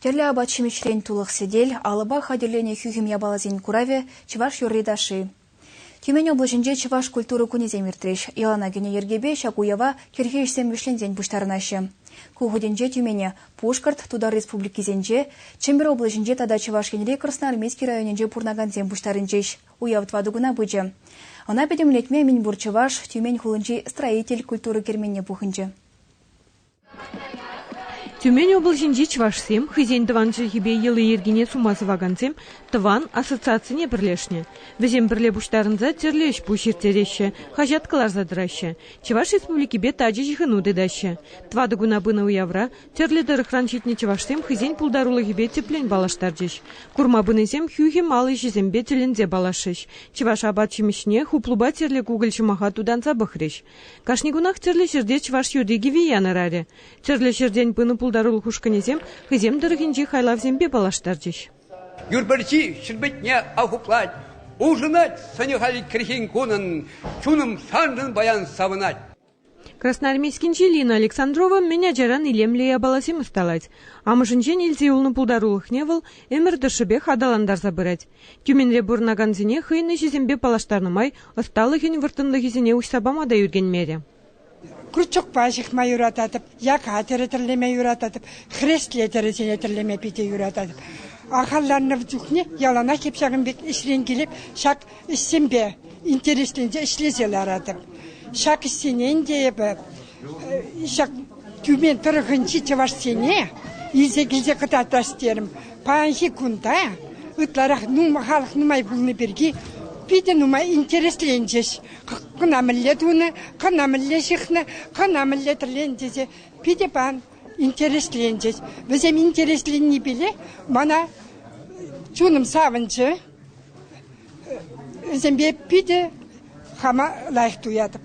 Тӗрлӗ апат-ҫимӗҫрен тулӑх сӗтел, алӑпа хатӗрленӗ хӳхӗм япаласен куравӗ – чӑваш юрри-ташши. Тюмень облаҫӗнче чӑваш культура кунӗсем иртрӗҫ. Ялана кӗнӗ йӗркепе ҫак уява кӗрхи ӗҫсем вӗҫленсен пуҫтарӑнаҫҫӗ. Ку хутӗнче Тюмене Пушкӑрт, Тутар Республикисенче, Чӗмпӗр облаҫӗнче тата Чӑваш Енри Красноармейски районӗнче пурӑнакансем пуҫтарӑнчӗҫ. Уяв тӑватӑ куна пычӗ. Ӑна пӗтӗмлетме мӗнпур чӑваш Тюмень хулинчи строитель культура керменне пухӑнчӗ. Тюмень облаҫӗнчи чӑвашсем хӑйсен тӑван чӗлхипе йӑли-йӗркине сума сӑвакансем тӑван ассоциацине пӗрлешнӗ. Вӗсем пӗрле пуҫтарӑнса тӗрлӗ ӗҫ-пуҫ ирттереҫҫӗ, хаҫат кӑларса тӑраҫҫӗ, Чӑваш Республикипе тачӑ ҫыхӑну тытаҫҫӗ. Тӑватӑ куна пынӑ уявра тӗрлӗ тӑрӑхран ҫитнӗ чӑвашсем хӑйсен пултарулӑхӗпе тӗплӗн паллаштарчӗҫ. Курма пынисем хӳхӗм ал ӗҫӗсемпе тӗлӗнсе паллашрӗҫ, чӑваш апат-ҫимӗҫне хуплупа тӗрлӗ кукӑль ҫӑмаха тутанса пӑхрӗҫ. Кашни кунах тӗрлӗ ҫӗрте чӑваш юрри-кӗви янӑрарӗ. Тӗрлӗ ҫӗртен пынӑ пултарулӑх ушкӑнӗсем хӑйсем тӑрӑхӗнчи хайлавсемпе паллаштарчӗҫ. Юрпӗрчи ҫӗрпетне ахуплать, улшӑнать сӑнӗ-халь кӗрхен кунӑн, чунӑм саншӑн паян савӑнать. Красноармейскинчи Лина Александрова мӗн ачаран илемлӗ япаласем ӑсталать. Амӑшӗнчен илсе юлнӑ пултарулӑхне вӑл ӗмӗр тӑршшӗпех аталантарса пырать. Тюменре пурӑнакансене хӑйӗн ӗҫӗсемпе паллаштарнӑ май ӑсталӑхӗн вӑрттӑнлӑхӗсене уҫса пама та ӳркенмерӗ. Крючокпа ҫыхма юрататӑп, яка тӗрӗ тӗрлеме юрататӑп, хрестле тӗрӗсене тӗрлеме питӗ юрататӑп. Ахалланнӑ чухне яланах эп ҫакӑн пек ӗҫрен килеп ҫак ӗҫсемпе интересленсе ӗҫлесе ларатӑп. Ҫак ӗҫсене ӗнтӗ эпӗ Ҫак тюмень тӑрӑхӗнчи чӑвашсене илсе килсе кӑтартас терӗм. Паянхи кунта ытларах халӑх нумай пулни пирки питӗ нумай интересленчӗҫ. Кӑна мӗнле тунӑ, кӑна мӗнле ҫыхнӑ, кӑна мӗнле тӗрленӗ тесе питӗ паян интересленчӗҫ. Вӗсем интересленнипеле мана чунӑм савӑнчӗ. Вӗсемпе питӗ хама лайӑх туятӑп.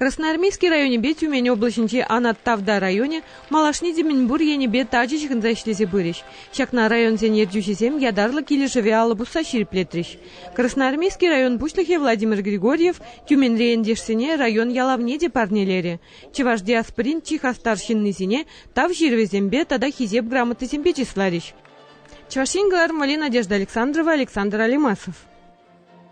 Красноармейски районӗпе Тюмень облаҫӗнчи Анат Тавда районӗ малашне те мӗнпур енӗпе тачӑ ҫыхӑнса ӗҫлесе пырӗҫ. Ҫакна районсен ертӳҫисем ятарлӑ килӗшӗве алӑ пусса ҫирӗплетрӗҫ. Красноармейски район пуҫлӑхӗ Владимир Григорьев Тюменьри ентешсене район ялавне те парнелерӗ. Чӑваш диаспорин чи хастар ҫыннисене тав ҫырӑвӗсемпе тата Хисеп грамотисемпе чысларӗҫ. Чӑваш Ен кӑлармалли Надежда Александрова, Александр Алимасов.